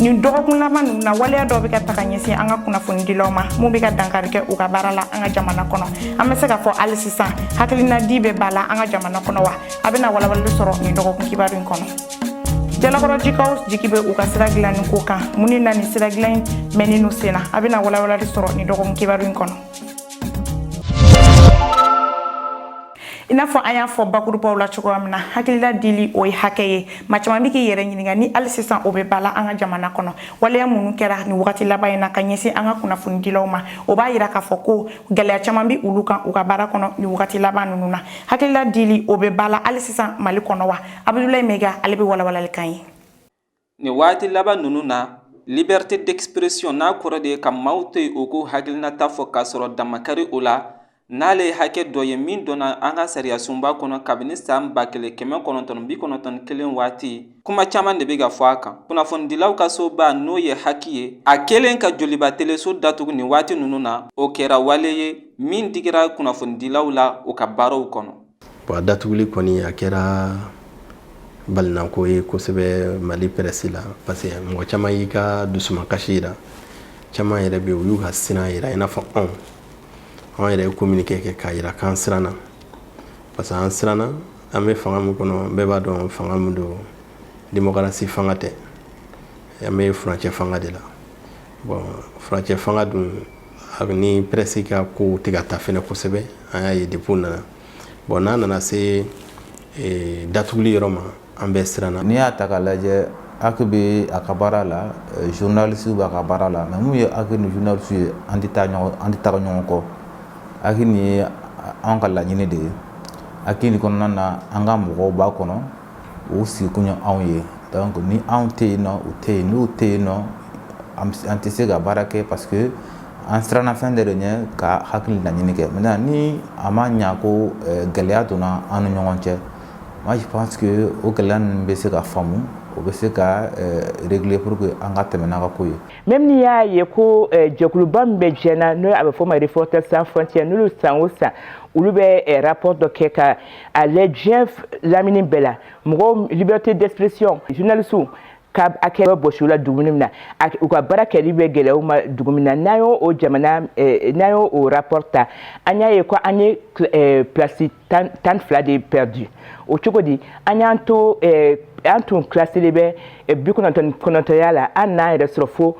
nin dɔgɔkun laban ninnu na waleya dɔ bɛ ka taga ɲɛsin an ka kunnafonidilaw ma mun bɛ ka dankari kɛ u ka baara la an ka jamana kɔnɔ an bɛ se ka fɔ hali sisan hakilinadi bɛ bala an ka jamana kɔnɔ wa a bɛna walawalali sɔrɔ nin dɔgɔkun kibaru in kɔnɔ jalakɔrɔjikaw jigi bɛ u ka sira dilanni ko kan mun ni na nin sira dilan in mɛnnen u sen na a bɛna walawalali sɔrɔ nin dɔgɔkun kibaru in kɔnɔ i n'a fɔ an y'a fɔ bakurubaw la cogoya min na hakilila dili o ye hakɛ ye maa caman bɛ k'i yɛrɛ ɲininka ni hali sisan o bɛ bala an ka jamana kɔnɔ waleya minnu kɛra nin wagati laban in na ka ɲɛsin an ka kunnafonidilaw ma o b'a yira k'a fɔ ko gɛlɛya caman bɛ olu kan u ka baara kɔnɔ nin wagati laban ninnu na hakilila dili o bɛ bala hali sisan mali kɔnɔ wa abudulayi mɛga ale bɛ walawalali kan ye nin wagati laban ninnu na liberté d'expression n'a kɔrɔ de ye ka maaw to yen u k'u hakilinata fɔ k'a sɔrɔ dan ma kari o la n'ale ye hakɛ dɔ ye min donna an ka sariyasunba kɔnɔ kabini san ba kelen kɛmɛ kɔnɔntɔn bi kɔnɔntɔn ni kelen waati kuma caman de bɛ ka fɔ a kan kunnafonidilaw ka soba n'o ye haki ye a kelen ka joliba teleso datugu nin waati ninnu na o kɛra wale ye min digira kunnafonidilaw la u ka baaraw kɔnɔ Bon a datuguli kɔni a kɛra balinako ye kosɛbɛ Mali presse la parce que mɔgɔ caman y'i ka dusumakasi jira, caman yɛrɛ bɛ yen u y'u ka siran jira i n'a fɔ anw, anw yɛrɛ ye communiqué kɛ k'a jira k'an siranna parce que an siranna an bɛ fanga min kɔnɔ bɛɛ b'a dɔn fanga min don démocratie fanga tɛ, an bɛ furancɛ fanga de la bon furancɛ fanga dun a ni presse ka ko tɛ ka taa fɛnɛ kosɛbɛ an y'a ye depuis nana bon n'a nana se e, datuguli yɔrɔ ma an bɛɛ siranna n'i y'a ta k'a lajɛ haki bɛ a ka baara la e, journalisiw b'a ka baara la mais mun ye haki ni journalisiw ye an tɛ taga ɲɔgɔn kɔ haki nin ye an ka laɲini de ye haki nin kɔnɔna na an ka mɔgɔw b'a kɔnɔ u sigi kun ye anw ye donc ni anw tɛ yen nɔ u tɛ yen n'u tɛ yen nɔ an tɛ se ka baara kɛ parce que an siranna fɛn de ɲɛ ka haki nin laɲini kɛ mais ni a ma ɲa ko gɛlɛya donna an ni ɲɔgɔn cɛ moi je pense que o gɛlɛya ninnu bɛ se ka faamu o bɛ se ka régler pour que an ka tɛmɛ n'a ka ko ye même n'i y'a ye ko jɛkuluba min bɛ diɲɛ na n'o a bɛ fɔ ma Reporters sans frontières n'olu san o san olu bɛ rapport dɔ kɛ ka a lajɛ diɲɛ lamini bɛɛ la mɔgɔw liberté d'expression journalisiw ka hakɛ bɔsi u la dugu min na u ka baara kɛli bɛ gɛlɛya u ma dugu min na n'an y'o o jamana eh, n'an y'o o rapport ta an y'a ye ko an ye eh, place tan ni fila de perdu o cogo di an y'an to eh, an tun kilasilen bɛ bi kɔnɔntɔn kɔnɔntɔnya la an n'an yɛrɛ sɔrɔ fo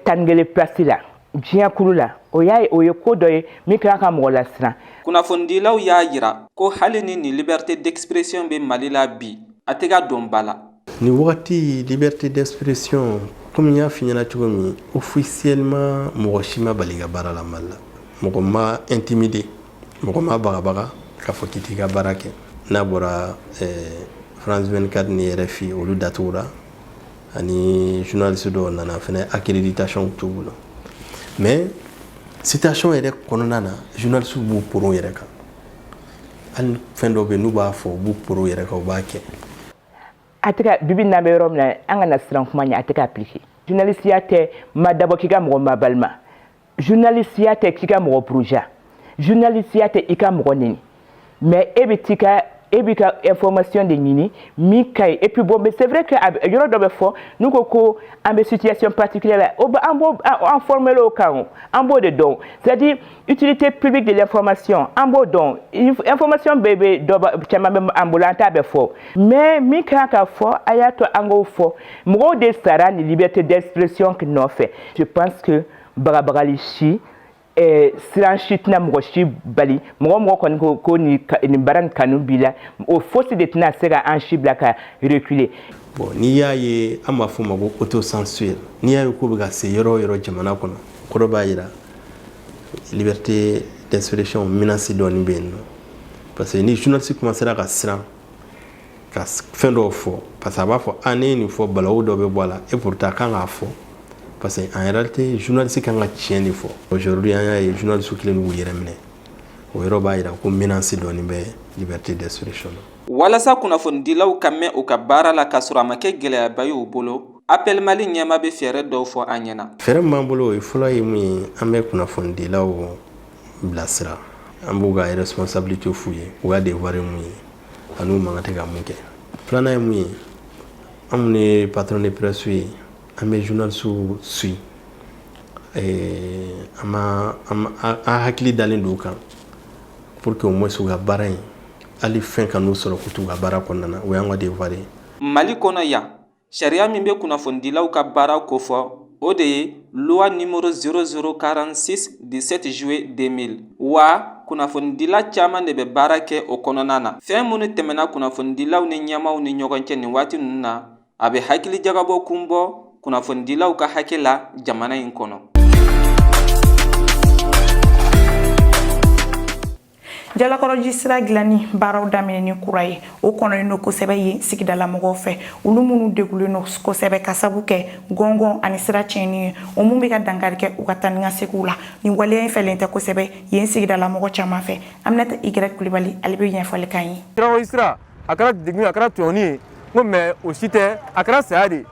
tan ni kelen place la diɲɛkulu la o y'a ye o ye ko dɔ ye min kɛra ka mɔgɔ lasiran kunnafonidilaw y'a yira ko hali ni nin liberté d'expression bɛ mali la bi a tɛ ka don ba la nin wagati liberté d'expression komi n y'a f'i ɲɛna cogo min officiellement mɔgɔ si ma bali ka baara la mali la mɔgɔ ma intimide mɔgɔ ma bagabaga k'a fɔ k'i t'i ka baara kɛ n'a bɔra eh, france 24 ni rfi olu datugura ani journaliste dɔw nana fɛnɛ accréditation t'u bolo mais situation yɛrɛ kɔnɔna na journaliste b'u poron yɛrɛ kan hali fɛn dɔ bɛ n'u b'a fɔ u b'u poron yɛrɛ kan u b'a kɛ en tout cas bibi n'an bɛ yɔrɔ min na an kana siran kuma ɲɛ a tɛ ka appliquer journalisiya tɛ ma dabɔ k'i ka mɔgɔ mabalima journalisiya tɛ k'i ka mɔgɔ buruja journalisiya tɛ i ka mɔgɔ neni mais e bɛ t'i ka e b'i ka information de ɲini min ka ɲi et puis bon mais c'est vrai que yɔrɔ dɔ bɛ fɔ n'u ko ko an bɛ situation particulière la o bɛ an b'o an former o kan o an b'o de dɔn c'est à dire utilité publique de l'information an b'o dɔn information bɛɛ bɛ dɔ ba caman bɛ an bolo an t'a bɛɛ fɔ mais min ka kan ka fɔ a y'a to an k'o fɔ mɔgɔw de sara nin liberté d'expression nɔfɛ je pense que bagabagali si eh, siran si tɛna mɔgɔ si bali mɔgɔ mɔgɔ kɔni ko ko nin nin baara nin kanu b'i la o fosi de tɛna se ka an si bila ka reculer. bon n'i y'a ye an b'a fɔ o ma ko autocensure n'i y'a ye k'o bɛ ka se yɔrɔ o yɔrɔ jamana kɔnɔ kɔrɔ b'a jira liberté d'expression menace dɔɔni bɛ yen nɔ parce que ni journaliste commencera ka siran ka fɛn dɔw fɔ parce que a b'a fɔ ni ne ye nin fɔ balawu dɔ bɛ bɔ a la et pourtant kan k'a fɔ parce que en réalité journaliste kan ka tiɲɛ de fɔ aujourd'hui an y'a ye journaliste kelen b'u yɛrɛ minɛ o yɔrɔ b'a jira ko menace dɔɔni bɛ liberté d'expression na walasa kunnafonidilaw ka mɛɛn u ka baara la k'a sɔrɔ a ma kɛ gɛlɛyaba ye u bolo Appel Mali ɲɛmaa bɛ fɛɛrɛ dɔw fɔ an ɲɛna. Fɛɛrɛ min b'an bolo o ye fɔlɔ ye mun ye an bɛ kunnafonidilaw bilasira an b'u ka responsabilité f'u ye u ka devoir ye mun ye ani u man kan tɛ ka mun kɛ filanan ye mun ye an minnu ye patron de presse ye an bɛ journalisiw suivi an hakili dalen don u kan pour que au moins u ka baara in hali fɛn ka n'u sɔrɔ k'u t'u ka baara kɔnɔna na o y'an ka devoir ye mali kɔnɔ yan Sariya min bɛ kunnafonidilaw ka baara kofɔ o de ye loi numéro 0046 17 juillet 2000 wa kunnafonidila caman de bɛ baara kɛ o kɔnɔna na fɛn minnu tɛmɛna kunnafonidilaw ni ɲɛmaaw ni ɲɔgɔn cɛ nin waati ninnu na a bɛ hakili jagabɔ kun bɔ kunnafonidilaw ka hakɛ la jamana in kɔnɔ jalakɔrɔji sira dilanni baaraw daminɛ ni kura ye o kɔnɔlen don kosɛbɛ yen sigidala mɔgɔw fɛ olu minnu degulen don kosɛbɛ ka sabu kɛ gɔngɔn ani sira tiɲɛni ye o min bɛ ka dankari kɛ u ka taa ni ka segiw la nin waleya in fɛlen tɛ kosɛbɛ yen sigidala mɔgɔ caman fɛ aminata igrɛk kulibali ale bɛ ɲɛfɔli kan ye jalakɔrɔji sira a kɛra degun a kɛra tɔɲɔni ye n ko mais o si tɛ a kɛra saya de ye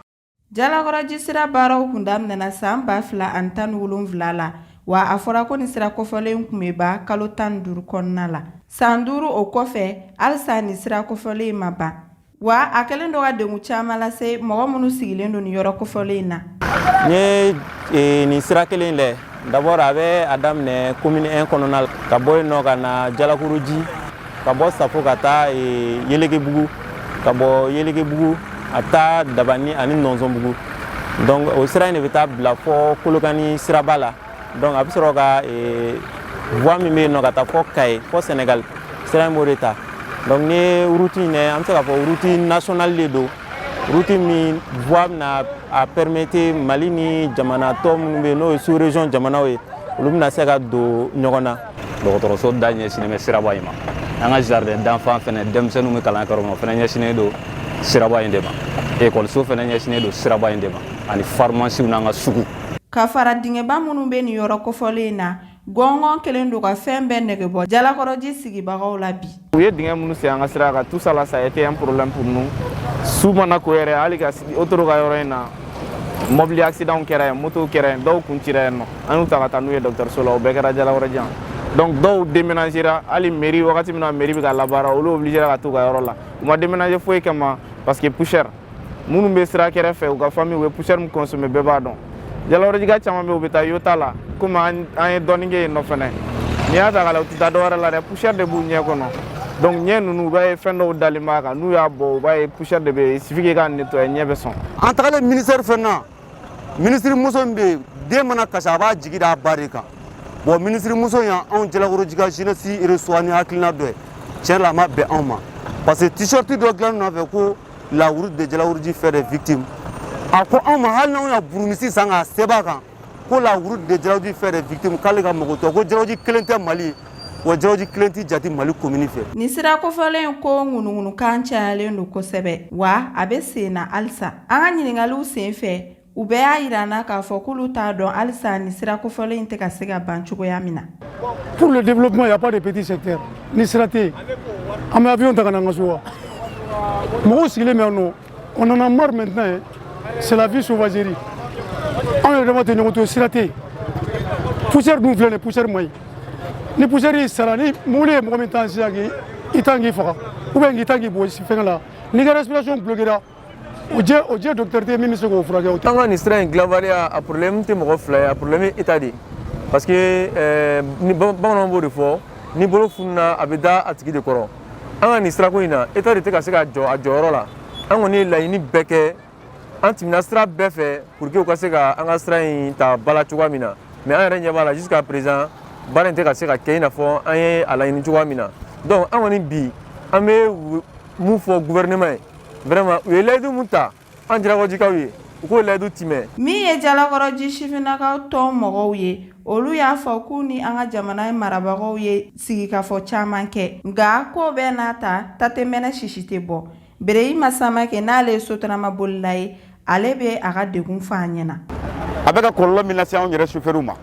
Jalakɔrɔji sira baaraw kun daminɛna san 2017 la wa a fɔra ko nin sira kofɔlen kun bɛ ban kalo tan ni duuru kɔnɔna la san duuru o kɔfɛ halisa nin sira kofɔlen in ma ban wa a kɛlen don ka degun caman lase mɔgɔ minnu sigilen don nin yɔrɔ kofɔlen in na n ye nin sira kelen lɛ D'abord a bɛ a daminɛ commune 1 kɔnɔna la ka bɔ yen nɔ ka na jalakɔrɔji ka bɔ safo ka taa yɛlɛgebugu ka bɔ yɛlɛgebugu a bɛ taa dabani ani nɔnsɔnbugu donc o sira in de bɛ taa bila fɔ kolokani siraba la donc a bɛ sɔrɔ ka voie min bɛ yen nɔ ka taa fɔ kayi fɔ sɛnɛgali sira in b'o de ta donc nin route in an bɛ se k'a fɔ route nationale de don Route min voie bɛna a permettre mali ni jamana tɔ minnu bɛ yen n'o ye sous-région jamanaw ye olu bɛna se ka don ɲɔgɔn na dɔgɔtɔrɔso da ɲɛsinnen bɛ siraba in ma an ka jardin d'enfants fɛnɛ denmisɛnninw bɛ kalan kɛ yɔrɔ min na fɛnɛ ɲɛsinnen don siraba in de ma ekɔliso fɛnɛ ɲɛsinnen don siraba in de ma ani farimasiw n'an ka sugu ka fara dingɛba minnu bɛ nin yɔrɔ kofɔlen in na Gɔngɔn kɛlen don ka fɛn bɛɛ nege bɔ jalakɔrɔji sigibagaw la bi u ye dingɛ minnu sen an ka sira kan tout ça là ça a été un problème pour nous su mana ko yɛrɛ hali ka autoroute ka yɔrɔ in na mɔbili accident kɛra yen moto kɛra yen dɔw kun cira yen nɔ an y'u ta ka taa n'u ye dɔgɔtɔrɔso la o bɛɛ kɛra jalakɔrɔji yan donc dɔw déménagera hali mairie wagati min na mairie bɛ ka labaara olu obligera ka taa u ka yɔrɔ la u ma déménager foyi kama parce que poussière minnu bɛ sira kɛrɛ fɛ u ka famille u bɛ poussière min consommer bɛɛ b'a dɔn jalakɔrɔjika caman bɛ u bɛ taa iota la komi an ye dɔɔni kɛ yen nɔ fɛnɛ n'i y'a ta k'a la u tɛ taa dɔwɛrɛ la dɛ poussière de b'u ɲɛ kɔnɔ donc ɲɛ ninnu u b'a ye fɛn dɔw dalen b'a kan n'u y'a bɔ u b'a ye poussière de bɛ yen il suffit k'i k'a nettoyer ɲɛ bɛ sɔn an tagalen ministère fɛn na ministre muso min bɛ yen den mana kasi a b'a jigi d'a ba de kan bon ministre muso in y'anw jalakɔrɔjika jeunesse reçoit ni hakilina dɔ ye tiɲɛ la a ma bɛn anw ma parce que t-shirt dɔ dilanni nɔfɛ ko la route de jalakɔrɔji fait des victimes a ko anw ma hali n'anw ye burumusi san k'a sɛbɛn a kan ko la route de jalakɔrɔji fait des victimes k'ale ka mago t'o la ko jalakɔrɔji kelen tɛ mali ye wa jalakɔrɔji kelen tɛ jate mali commune fɛ nin sira kofɔlen ko ŋunuŋunukan cayalen don kosɛbɛ wa a bɛ sen na halisa an ka ɲiningaliw sen fɛ U bɛɛ y'a jira an na k'a fɔ k'olu t'a dɔn halisa nin sira kofɔlen in tɛ ka se ka ban cogoya min na. Pour le développement, il y a pas de petit secteur. Ni sira tɛ yen, an bɛ avion ta ka na an ka so wa? Mɔgɔw sigilen bɛ yan nɔ, on en a marre maintenant, c'est la vie sauvagerie. Anw yɛrɛ dama tɛ ɲɔgɔn to, sira tɛ yen. Poussière dun filɛ nin ye, poussière man ɲi. Ni poussière y'i sara, ni mobili ye mɔgɔ min tan sisan k'i tan k'i faga, ou bien k'i tan k'i bugɔ fɛngɛ la, n'i ka respiration bloquera o jɛ o jɛ docteur tɛ min bɛ se k'o furakɛ o tɛ. an ka nin sira in dilanbaliya a problème tɛ mɔgɔ fila ye a problème ye état de ye parce que ɛɛ ni bamananw b'o de fɔ ni bolo fununa a bɛ da a tigi de kɔrɔ an ka nin sirako in na état de tɛ ka se ka jɔ a jɔyɔrɔ la an kɔni ye laɲini bɛɛ kɛ an tɛmɛna sira bɛɛ fɛ pour que u ka se ka an ka sira in ta ba la cogoya min na mais an yɛrɛ ɲɛ b'a la jusqu'à présent baara in tɛ ka se ka kɛ i n'a fɔ an ye a laɲini cogoya min na donc an kɔni bi an bɛ mun fɔ gouvernement ye vraiment u ye layidu mun ta an jalakɔrɔjikaw ye u k'o layidu timɛ min ye jalakɔrɔji sifinnakaw tɔn mɔgɔw ye olu y'a fɔ k'u ni an ka jamana marabagaw ye sigikafɔ caman kɛ nka k'o bɛɛ n'a ta ta tɛ mɛnɛ sisi tɛ bɔ bereyima samakɛ n'ale ye sotaramabolila ye ale bɛ a ka degun fɔ an ɲɛna a bɛ ka kɔlɔlɔ min lase anw yɛrɛ sofɛriw ma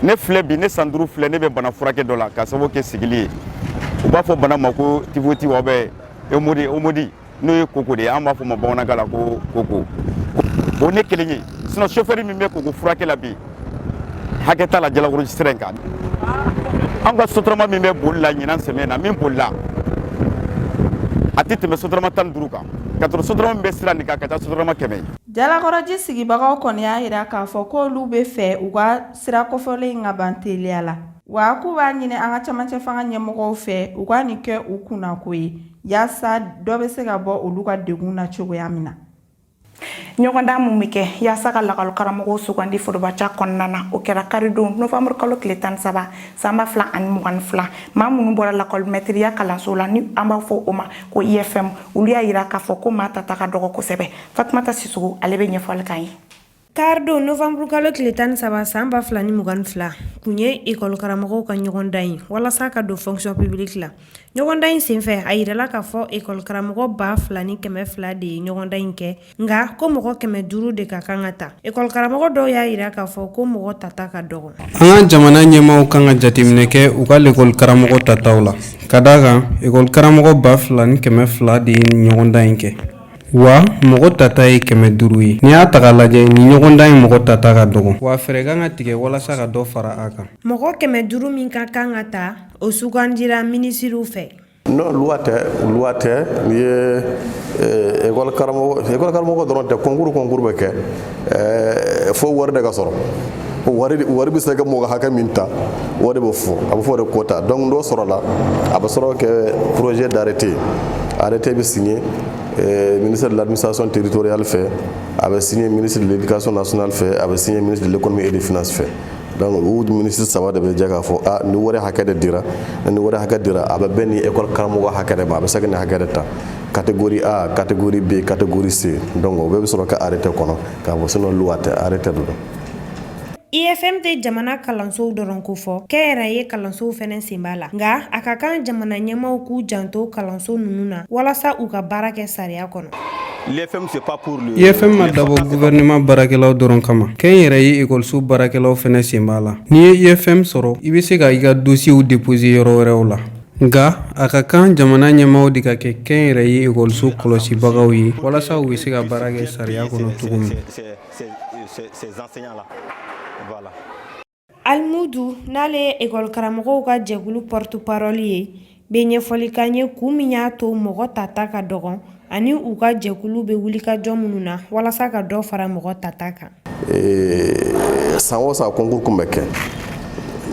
ne filɛ bi ne san duuru filɛ ne bɛ bana furakɛ dɔ la k'a sababu kɛ sigili ye u b'a fɔ bana ma ko typhoïde ou bien hémorroïde n'o ye koko de ye an b'a fɔ ma bamanankan la ko koko o ne kelen ye sinon sofɛri min bɛ koko furakɛ la bi hakɛ t'a la jalakɔrɔji sira in kan an ka sotarama min bɛ boli la ɲinan samiɲɛ na min bolila a tɛ tɛmɛ sotarama tan ni duuru kan ka sɔrɔ sotarama min bɛ sira nin kan ka ca sotarama kɛmɛ ye jalakɔrɔji sigibagaw kɔni y'a jira k'a fɔ k'olu bɛ fɛ u ka sira kofɔlen in ka ban teliya la wa k'u b'a ɲini an ka camancɛ fanga ɲɛmɔgɔw fɛ u ka nin kɛ u kunnako ye yaasa dɔ bɛ se ka bɔ olu ka degun na cogoya min na ɲɔgɔndan mun bɛ kɛ yaasa ka lakɔlikaramɔgɔw sugandi forobaca kɔnɔna na o kɛra karidon novanburu kalo tile tan saba san ba fila ani mugan ni fila maa minnu bɔra lakɔlimɛtiriya kalanso la ni an b'a fɔ o ma ko ifm olu y'a yira k'a fɔ ko maa tata ka dɔgɔ kosɛbɛ fatumata sisoko ale bɛ ɲɛfɔli k'an ye Karidon nowanburukalo tile tan ni saba san ba fila ni mugan ni fila kun ye ekɔlikaramɔgɔw ka ɲɔgɔndan ye walasa ka don fonction publique la ɲɔgɔndan in senfɛ a jirala k'a fɔ ekɔlikaramɔgɔ ba fila ni kɛmɛ fila de ye ɲɔgɔndan in kɛ nka ko mɔgɔ kɛmɛ duuru de ka kan ka ta ekɔlikaramɔgɔ dɔw y'a jira k'a fɔ ko mɔgɔ tata ka dɔgɔ an ka jamana ɲɛmaaw kan ka jateminɛ kɛ u ka ekɔlikaramɔgɔ tataw la ka d'a kan ekɔlikaramɔgɔ ba fila ni kɛmɛ fila de ye ɲɔgɔndan in kɛ wa mɔgɔ tata ye kɛmɛ duuru ye n'i y'a ta k'a lajɛ nin ɲɔgɔndan in mɔgɔ tata ka dɔgɔ wa fɛɛrɛ kan ka tigɛ walasa ka dɔ fara a kan mɔgɔ kɛmɛ duuru min ka kan ka ta o sugandira minisiriw fɛ non loi tɛ loi tɛ u ye ekɔli karamɔgɔ dɔrɔn tɛ kɔnkuru kɔnkuru bɛ kɛ fo wari de ka sɔrɔ wari wari bɛ se ka mɔgɔ hakɛ min ta o de bɛ fɔ a bɛ fɔ o de quota donc n'o sɔrɔla a bɛ sɔrɔ kɛ projet d'arrêté arrêté bɛ signé ministre de l'administration territoriale fɛ a bɛ signé ministre de l'éducation nationale fɛ a bɛ signé ministre de l'économie et des finances fɛ donc u ministre saba de bɛ jɛ k'a fɔ a nin wari hakɛ de dira ni wari hakɛ dira a bɛ bɛn nin ekɔli karamɔgɔ hakɛ de ma a bɛ se ka nin hakɛ de ta catégorie A, catégorie B, catégorie C. Donc o bɛɛ bɛ sɔrɔ ka arrêté kɔnɔ k'a bɔ sinon loi tɛ arrêté de don. IFM tɛ jamana kalansow dɔrɔn kofɔ, kɛnyɛrɛye kalansow fɛnɛ sen b'a la. Nka a ka kan jamana ɲɛmaaw k'u janto kalanso ninnu na walasa u ka baara kɛ sariya kɔnɔ. IFM ma dabɔ gouvernement baarakɛlaw dɔrɔn kama, kɛnyɛrɛye ekɔliso baarakɛlaw fɛnɛ sen b'a la. N'i ye IFM sɔrɔ, i bɛ se ka i ka dosiyew déposer yɔrɔ wɛrɛw la. Nka a ka kan jamana ɲɛmaaw de ka kɛ kɛnyɛrɛye ekɔliso kɔlɔsibagaw ye walasa u bɛ se ka baara kɛ sariya kɔnɔ cogo min Almudu n'ale ye ekɔli karamɔgɔw ka jɛkulu porte-parole ye bɛ ɲɛfɔli k'an ye kun min y'a to mɔgɔ tata ka dɔgɔn ani u ka jɛkulu bɛ wulikajɔ minnu na walasa ka dɔ fara mɔgɔ tata kan san o san kɔnkurun kun bɛ kɛ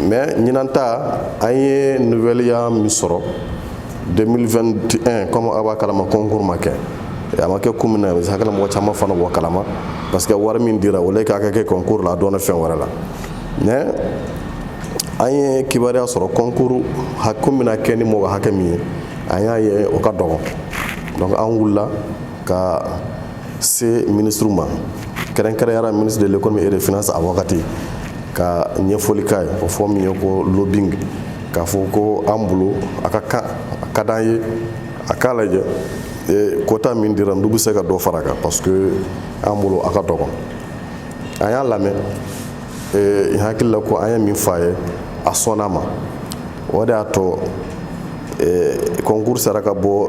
mɛ ɲinan ta an ye nuvɛliya min sɔrɔ 2021 kɔmi a b'a kalama kɔnkurun ma kɛ a ma kɛ kun min na ne hakili mɔgɔ caman fana b'o kalama parce que wari min dira o k'a kɛ kɛ kɔnkurun la a donna fɛn wɛrɛ la mɛ an ye kibaruya sɔrɔ kɔnkurun kun bɛna kɛ ni mɔgɔ hakɛ min ye an y'a ye o ka dɔgɔ donc an wulila ka se minisiri ma kɛrɛnkɛrɛnyara ministre de l'économie et des finances a wagati ka ɲɛfɔli k'a ye o fɔ min ye ko lobbying k'a fɔ ko an bolo a ka kan a ka d'an ye a k'a lajɛ e, kota min dira n'u bɛ se ka dɔ far'a kan parce que an bolo a ka dɔgɔ a y'an lamɛn ee, hakili la ko an ye min fɔ a ye a sɔnn'a ma o de y'a to kɔnkuru sera ka bɔ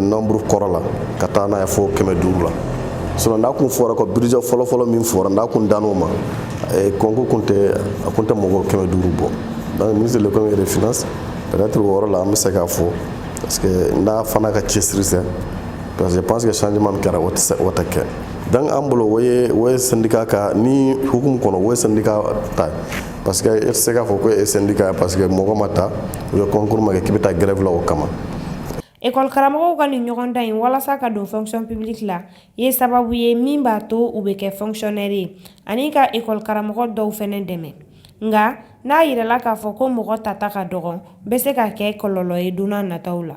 nɔnburu kɔrɔ la ka taa n'a ye fo kɛmɛ duuru la sinɔn n'a kun fɔra ko budget fɔlɔfɔlɔ min fɔra n'a kun dan'o ma kɔnkuru kun tɛ a kun tɛ mɔgɔ kɛmɛ duuru bɔ donc ministre de l'économie et des finances peut-être o yɔrɔ la an bɛ se k'a fo parce que n'a fana ka cɛsiri tɛ parce que je pense que changement min kɛra o tɛ kɛ Donc an bolo o ye o ye sendika ka ni hukumu kɔnɔ o ye sendika ta parce que e tɛ se k'a fɔ ko e sendika parce que mɔgɔ ma ta u ye kɔnkuru ma kɛ k'i bɛ taa gɛrɛfi la o kama ekɔli karamɔgɔw ka nin ɲɔgɔndan in walasa ka don fonction publique la ye sababu ye min b'a to u bɛ kɛ fonctionnaire ye ani ka ekɔli karamɔgɔ dɔw fana dɛmɛ nka n'a yirala k'a fɔ ko mɔgɔ tata ka dɔgɔn bɛ se ka kɛ kɔlɔlɔ ye don nataw la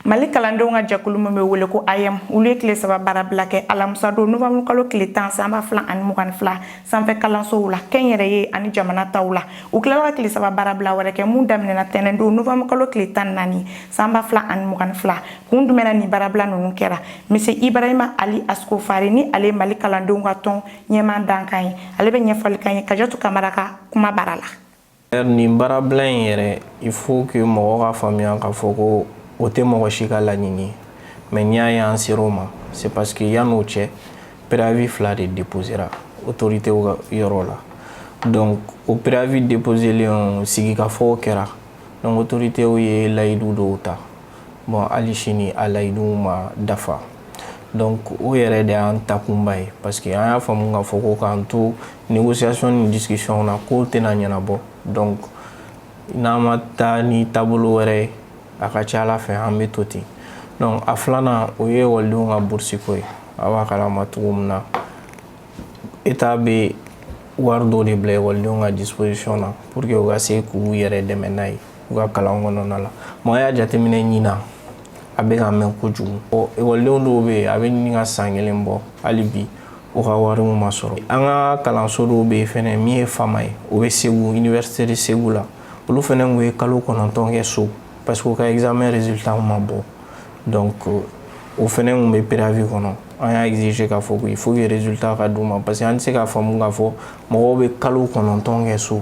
mali kalandenw ka jɛkulu min bɛ wele ko aeem olu ye tile saba baarabila kɛ alamisa don novanburu kalo tile tan sanba fila ani mugan ni fila sanfɛ kalansow la kɛnyɛrɛye ani jamana taw la u tilala ka tile saba baarabila wɛrɛ kɛ min daminɛna tɛnɛn don novanburu kalo tile tan naani sanba fila ani mugan ni fila kun jumɛn na ni baarabila ninnu kɛra monsieur ibrahima ali askofare ni ale mali kalandenw ka tɔn ɲɛmaa dankan ye ale bɛ ɲɛfɔli k'an ye kajatu kamara ka kuma bara la nin baarabila in yɛrɛ il faut que mɔgɔw k'a faamuya k'a fɔ ko o tɛ mɔgɔ si ka laɲini ye mais n'i y'a ye an ser'o ma c'est parce que yann'o cɛ préavis fila de déposera autoritéw ka yɔrɔ la donc o préavis déposelen sigikafɔw kɛra donc autoritéw ye layidu dɔw ta bon hali sini a layiduw ma dafa donc o yɛrɛ de y'an takunba ye parce que an y'a faamu k'a fɔ ko k'an to négociation ni discussion na k'o tɛna ɲɛnabɔ donc n'an ma taa ni taabolo wɛrɛ ye a ka ca ala fɛ an bɛ to ten donc a filanan o ye ekɔlidenw ka burusi ko ye a b'a kalama cogo min na état bɛ wari dɔ de bila ekɔlidenw ka disposition na pour que u ka se k'u yɛrɛ dɛmɛ n'a ye u ka kalan kɔnɔna la mɔgɔ y'a jateminɛ ɲinan a bɛ ka mɛn kojugu ɔ ekɔlidenw dɔw bɛ yen a bɛ ɲini ka san kelen bɔ hali bi u ka wariw ma sɔrɔ an ka kalanso dɔw bɛ yen fɛnɛ min ye fama ye o bɛ segu université de segu la olu fɛnɛ tun ye kalo kɔnɔntɔn kɛ so parce que u ka examen résultat ma bɔ donc o fɛnɛ tun bɛ préavis kɔnɔ an y'a exiger k'a fɔ ko il faut que résultat ka d'u ma parce que an tɛ se k'a faamu k'a fɔ mɔgɔw bɛ kalo kɔnɔntɔn kɛ so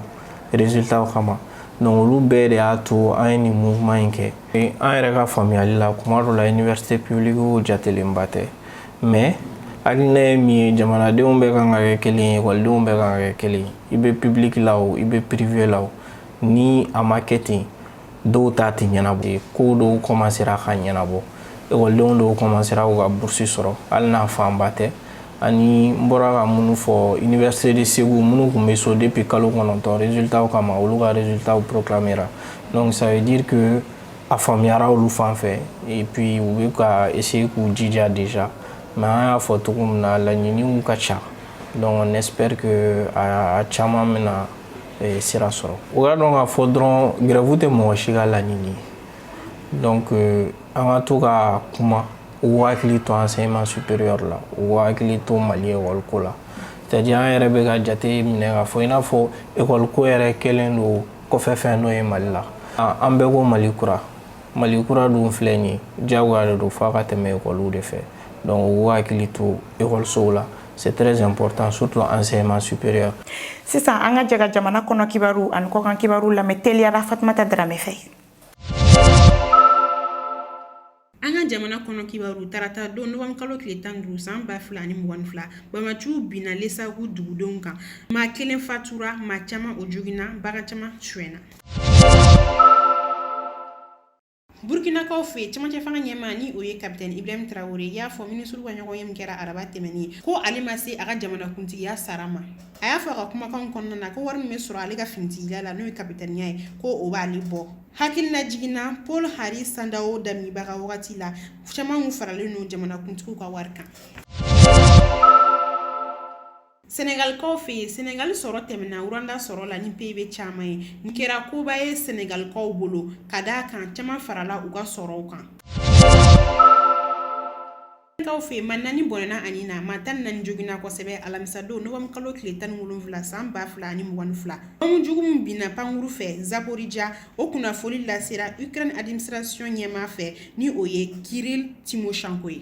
résultat kama donc olu bɛɛ de y'a to an ye nin mouvement in kɛ an yɛrɛ ka faamuyali la kuma dɔ la université publique jatelenba tɛ mais hakilina ye min ye jamanadenw bɛɛ kan ka kɛ kelen ye ekɔlidenw bɛɛ kan ka kɛ kelen ye i bɛ public la o i bɛ privé la o ni a ma kɛ ten dɔw ta tɛ ɲɛnabɔ ko dɔw commencera ka ɲɛnabɔ ekɔlidenw dɔw commencera k'u ka burusi sɔrɔ hali n'a fanba tɛ ani n bɔra ka minnu fɔ université de Ségou minnu tun bɛ so depuis kalo kɔnɔntɔn résultats kama olu ka résultats proclamera donc ça veut dire que a faamuyara olu fan fɛ et puis u bɛ ka essayer k'u jija déjà mais an y'a fɔ cogo min na laɲiniw ka ca donc on espère que a caman bɛna eh, sira sɔrɔ u k'a dɔn k'a fɔ dɔrɔn grève tɛ mɔgɔ si ka laɲini ye donc euh, an ka to ka kuma u hakili to enseignement supérieur la u hakili to mali ekɔli ko la c'est à dire an yɛrɛ bɛ ka jateminɛ k'a fɔ i n'a fɔ ekɔli ko yɛrɛ kɛlen don kɔfɛ fɛn dɔ ye mali la an bɛɛ ko mali kura mali kura dun filɛ nin ye diyagoya de don f'a ka tɛmɛ ekɔliw de fɛ donc u hakili to ekɔlisow la c'est très important surtout enseignement supérieur sisan an ka jɛ ka jamana kɔnɔ kibaru ani kɔkan kibaru lamɛn teliyara fatumata darame fɛ an ka jamana kɔnɔ kibaru tarata don novembre kalo tile tan ni duuru san ba fila ni mugan fila bamaciw binna lesagu dugudenw kan maa kelen fatura maa caman o joginna bagan caman suɲɛna Burkinakaw fɛ yen cɛmancɛ fanga ɲɛmaa ni o ye kapiteni Ibrahim Traore y'a fɔ minisiriw ka ɲɔgɔnye min kɛra araba tɛmɛnen ko ale ma se a ka jamanakuntigiya sara ma a y'a fɔ a ka kumakanw kɔnɔna na ko wari min bɛ sɔrɔ ale ka finitigila la n'o ye kapitɛniya ye ko o b'ale bɔ hakilinajigin na Paul Henri Sandaogo Damiba ka wagati la caman tun faralen don jamanakuntigiw ka wari kan Sɛnɛgalikaw fɛ yen sɛnɛgali sɔrɔ tɛmɛna Rwanda sɔrɔ la ni PIB caman ye nin kɛra koba ye sɛnɛgalikaw bolo ka d'a kan caman farala u ka sɔrɔ kan Ukrainekaw fɛ yen maa naani bɔnɛna u ni na maa tan ni naani joginna kosɛbɛ alamisadon novembre kalo tile tan ni wolonwula san ba fila ani mugan fila bɔmu jugu min binna pankurun fɛ Zaporijia o kunnafoni lasera Ukraine administration ɲɛmaa fɛ ni o ye Kirill Timoshenko ye